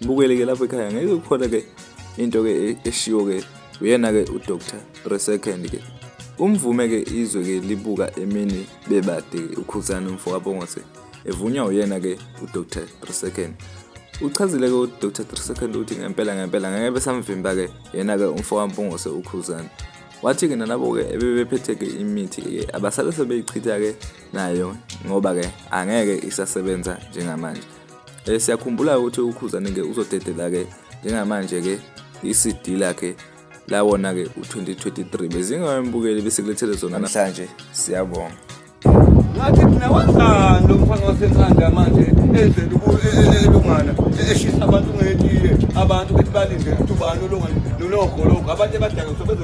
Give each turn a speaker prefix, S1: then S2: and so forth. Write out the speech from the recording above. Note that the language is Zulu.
S1: Bukele ke lapho ekhaya ngeke kukhona ke into ke e-, eshiwo ke uyena ke uDr Resecond ke umvume ke izwe ke libuka emini bebade ukhuzana umfo kabongose evunywa uyena ke uDr Resecond uchazile ke uDr Second ukuthi ngempela ngempela ngeke besamvimba ke yena ke umfo kaMpungose ukhuzana wathi ke nalabo ke ebebephethe ke imithi ke abasale sebeyichitha ke nayo ngoba ke angeke isasebenza njengamanje Eh siyakhumbula ukuthi uKhuzane ke uzodedela ke njengamanje ke iCD lakhe lawona ke u2023 bezingawembukeli bese kulethele zona namhlanje siyabonga
S2: ngathi mina wazani lo mfana wasenkanda manje enzela elungana eshisa abantu ngetiye abantu bethi balinde ukuthi ubani olungana nologologo abantu ebadaka sobezo